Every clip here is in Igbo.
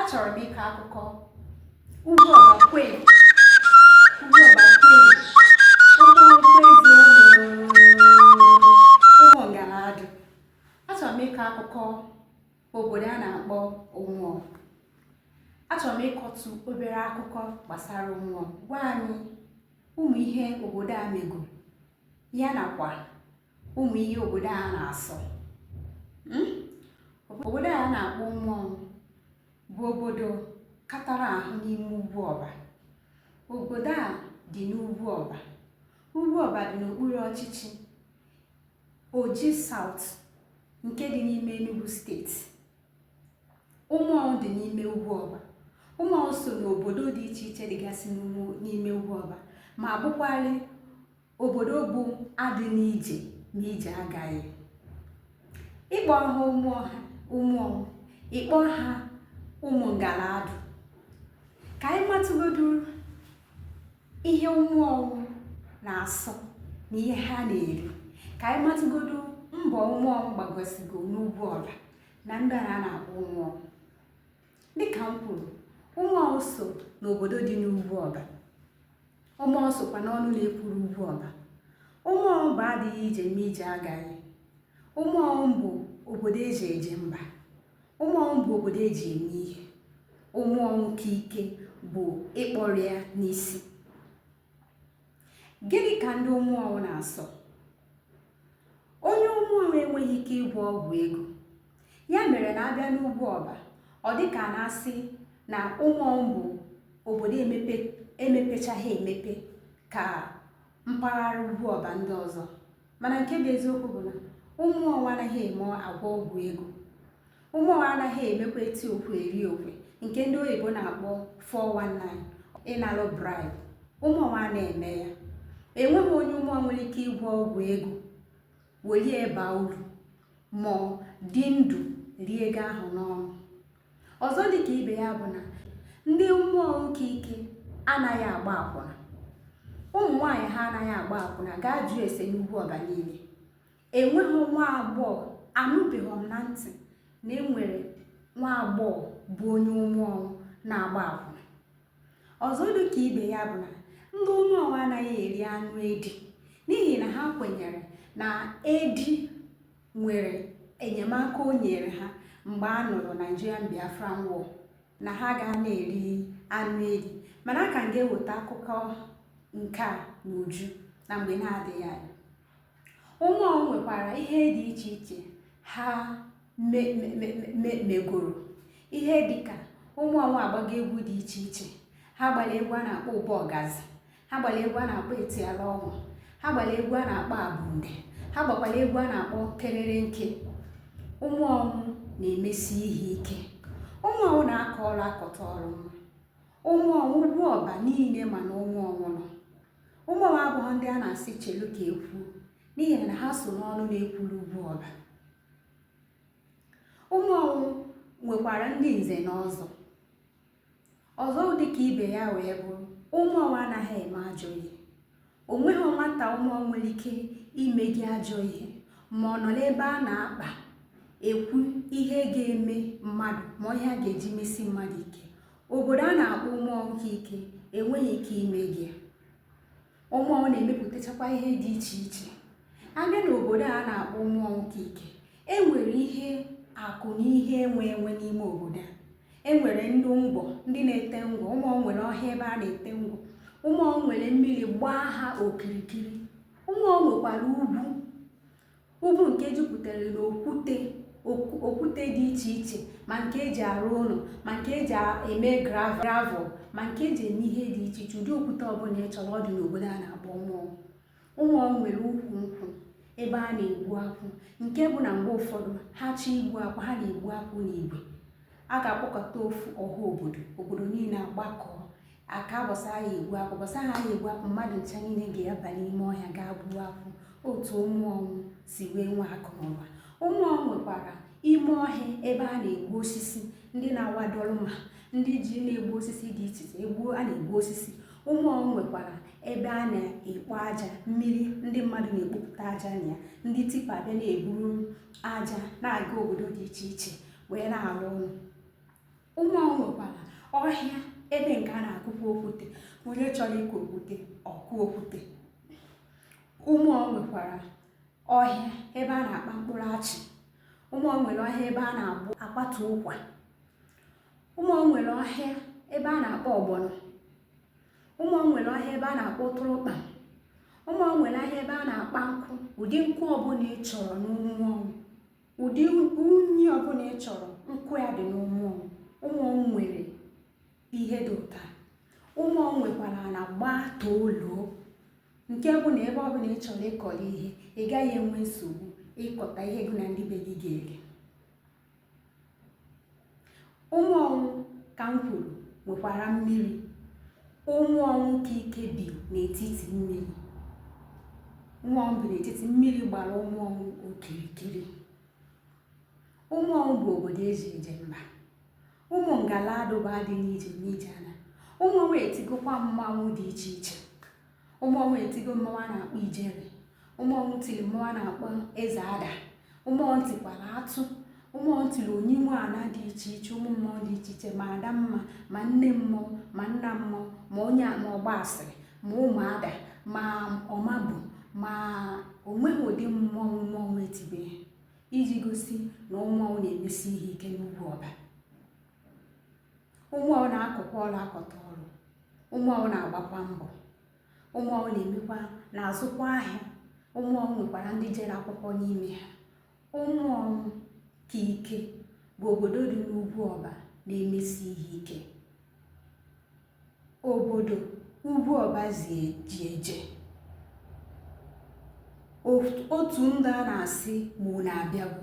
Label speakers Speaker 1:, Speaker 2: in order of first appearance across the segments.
Speaker 1: achọrọ m ịkọ akụkọ ugwu ọbakwe ugwu ọbakwe ụmụ akwụkwọ ezi ụmụ ngaladụ achọrọ m ịkọ akụkọ obodo a na-akpọ ụmụọnwụ achọrọ m ịkọtụ obere akụkọ gbasara ụmụọnwụ gwa anyị ụmụ ihe obodo a mego ya nakwa ụmụ ihe obodo a na-asọ hmm? obodo a na-akpọ ụmụọnwụ bụ obodo katara ahụ n'ime ugwu ọba obodo a dị n'ugwu ọba ugwu ọba dị n'okpuru ọchịchị oji south nke dị n'ime enugu steeti ụmụọnwụ dị n'ime ugwu ọba ụmụọnwụ so n'obodo dị iche iche dịgasị n'ime ugwu ọba ma bụkwarị obodo bụ adị n'ije ma ije agaghị ịkpọ ha ụmụọnwụ ịkpọ ha ụmụ ngaladụ ka anyị matụgodu ihe ụmụọnwụ na-asọ na ihe ha na-eri ka anyị matụgodu mbọ ụmụọnwụ gbagosigo n'ugwu ọla na ndị a na-akpọ ụmụọnwụ dịka m kwuru ụmụọnwụ so n'obodo dị n'ugwu ọba ụmụọnwụ sokwa n'ọnụ na-ekwuru ugwu ọba ụmụọnwụ bụ adịghị ije ma ije agaghị ụmụọnwụ bụ obodo eji eje mba ụmụọnwụ bụ obodo eji eme ihe ụmụọnwụ nke ike bụ ịkpọrọ ya n'isi gịnị ka ndị ụmụọnwụ na-asọ onye ụmụọnwụ enweghị ike ịgwọ ọgwụ ego ya mere na a bịa n'ugwu ọba ọ dị ka a na-asị na ụmụọnwụ bụ obodo emepechaghị emepe ka mpaghara ugwu ọba ndị ọzọ mana nke bụ eziokwu bụ na ụmụọnwụ anaghị eme agwọ ọgwụ ego ụmụọnwụ anaghị emekwa eti okwe eri okwe nke ndị oyibo na-akpọ 419 ịnalụ bribe ụmụọnwụ ana-eme ya enweghị onye ụmụọnwụ nwere ike ịgwọ ọgwụ ego welie baa uru ma dị ndụ rie ego ahụ n'ọnụ ọzọ dị ka ibe ya bụ na ndị ụmụọnwụ nke ike anaghị agba akwụna ụmụ nwaanyị ha anaghị agba akwụna gaa jụọ ese n'ugwu ọba niile enweghị nwa agbọghọ anụbeghị m na ntị na enwere nwa agbọghọ bụ onye ụmụọnwụ na-agba akwụna ọzọ dị ka ibe ya bụ na ndị ụmụọnwụ anaghị eri anụ edi n'ihi na ha kwenyere na edi nwere enyemaka o nyere ha mgbe a nụrụ Nigerian Biafran War na ha ga na-eri anụ edi mana a ka m ga-eweta akụkọ nke a n'uju na mgbe na-adịghị anya Ụmụ ọnwụ nwekwara ihe dị iche iche ha megoro ihe dị ka ụmụ ọnwụ agbago egwu dị iche iche ha gbara egwu a na-akpọ ụbọ ọgazi ha gbara egwu a na-akpọ etiala ọnwụ ha gbara egwu a na-akpọ abunde ha gbakwara egwu a na-akpọ kerere nke ụmụ ọnwụ na-emesi ihe ike ụmụ ọnwụ na-akọ ọrụ akọta ọrụ mma ụmụ ọnwụ ugwu ọba niile ma na ụmụ ọnwụ nọ ụmụ ọnwụ abụghị ndị a na-asị chelu ka ekwu n'ihi na ha so n'ọnụ na-ekwuru ugwu ọba ụmụ ọnwụ nwekwara ndị nze na ọzọ ọzọ dị ka ibe ya wee bụrụ ụmụ ọnwụ anaghị eme ajọ ihe o nweghị nwata ụmụ ọnwụ nwere ike ime gị ajọ ihe ma ọ nọ n'ebe a na-akpa ekwu ihe ga-eme mmadụ ma ihe a ga-eji mesi mmadụ ike obodo a na-akpọ ụmụ ọnwụ nke ike enweghị ike ime gị ụmụ ọnwụ na-emepụtachakwa ihe dị iche iche a bịa n'obodo a na-akpọ ụmụ ọnwụ nke ike enwere ihe akụ na ihe enwe enwe n'ime obodo a enwere ndị ngwọ ndị na-ete ngwọ ụmụ ọnwụ nwere ọhịa ebe a na-ete ngwọ ụmụ ọnwụ nwere mmiri gbaa ha okirikiri ụmụ ọnwụ nwekwara ugwu ugwu nke jupụtara n'okwute okwute dị iche iche ma nke eji arụ ụlọ ma nke eji eme gravel ma nke eji eme ihe dị iche iche ụdị okwute ọbụla ị chọrọ ọ dị n'obodo a na-akpọ ụmụ ọnwụ ụmụ ọnwụ nwere ukwu nkwụ ebe a na-egbu akwụ nke bụ na mgbe ụfọdụ ha chọọ igbu akwụ ha na-egbu akwụ n'igwe a ga-akpọkọta ofu ọha obodo obodo niile agbakọọ aka ụbọsị a ya-egbu akwụ ụbọsị ha ya-egbu akwụ mmadụ ncha niile ga-aba n'ime ọhịa gaa gbuo akwụ otu ụmụ ọnwụ si wee nwe akụ na ụba ụmụ ọnwụ nwekwara ime ọhịa ebe a na-egbu osisi ndị na-awa Dolmar ndị ji na-egbu osisi dị iche iche egbuo a na-egbu osisi ụmụ ọnwụ nwekwara ebe a na-ekpo aja mmiri ndị mmadụ na-ekpopụta aja na ya ndị tipper abịa na-eburu aja na-aga obodo dị iche iche wee na-arụ ụlọ ụmụ ọnwụ nwekwara ọhịa ebe nke a na-akụkwa okwute onye chọrọ ịkụ okwute ọ kụọ okwute ụmụ ọnwụ nwekwara ọhịa ebe a na-akpa mkpụrụ achị ụmụ ọnwụ nwere ọhịa ebe a na-akpata ụkwa ụmụ ọnwụ nwere ọhịa ebe a na-akpa ọgbọnọ ụmụ ọnwụ nwere ọhịa ebe a na-akpa ụtụrụkpa ụmụ ọnwụ nwere ọhịa ebe a na-akpa nkụ ụdị nkụ ọbụla ị chọrọ n'ụmụ ọnwụ ụdị unyi ọbụla ị chọrọ nkụ ya dị n'ụmụ ọnwụ ụmụ ọnwụ nwere ihe dị ụtọ ụmụ ọnwụ nwekwara ana gbaa toolo nke bụ na ebe ọbụla ị chọrọ ịkọrọ ihe ị gaghị enwe nsogbu ịkọta ihe gị na ndị be gị ga-eri Ụmụọnwụ ka m kwuru nwekwara mmiri. Ụmụọnwụ ka ike bi n'etiti mmiri. Ụmụọnwụ bi n'etiti mmiri gbara Ụmụọnwụ okirikiri. Ụmụọnwụ bụ obodo eji eje mba. Ụmụ Ngaladụ ba dị n'ije n'ije ana. Ụmụọnwụ etigokwa mmanwụ dị iche iche. Ụmụọnwụ etigo mmanwụ a na-akpọ ijere Ụmụọnwụ tiri mmanwụ a na-akpọ eze ada Ụmụọnwụ tikwara atụ Ụmụọnwụ tiri onyinwe ana dị iche iche ụmụ mmụọ dị iche iche ma ada mma ma nne mmụọ ma nna mmụọ ma onye ma ọgba asịrị ma ụmụada ma ọmabụ ma onweghị ụdị mmụọ Ụmụọnwụ etibeghị iji gosi na Ụmụọnwụ na-emesi ihe ike n'Ugwuọba Ụmụọnwụ na-akọkwa ọrụ akọta ọrụ Ụmụọnwụ na-agbakwa mbọ Ụmụọnwụ na-emekwa na-azụkwa ahịa Ụmụọnwụ nwekwara ndị jere akwụkwọ n'ime ha Ụmụọnwụ ka ike bụ obodo dị n'Ugwuọba na-emesi ihe ike obodo ugwu ọba ji eje otu ndị a na-asị ma unu abịago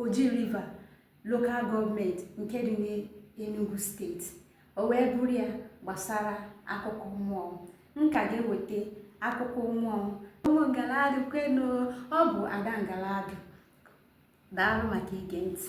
Speaker 1: Oji River Local Government nke dị n'Enugu steeti o wee bụrụ ya gbasara akụkọ Ụmụọnwụ m ka ga-eweta akụkọ Ụmụọnwụ ụmụ Ngaladụ kwenu ọ bụ ada Ngaladụ daalụ maka ige ntị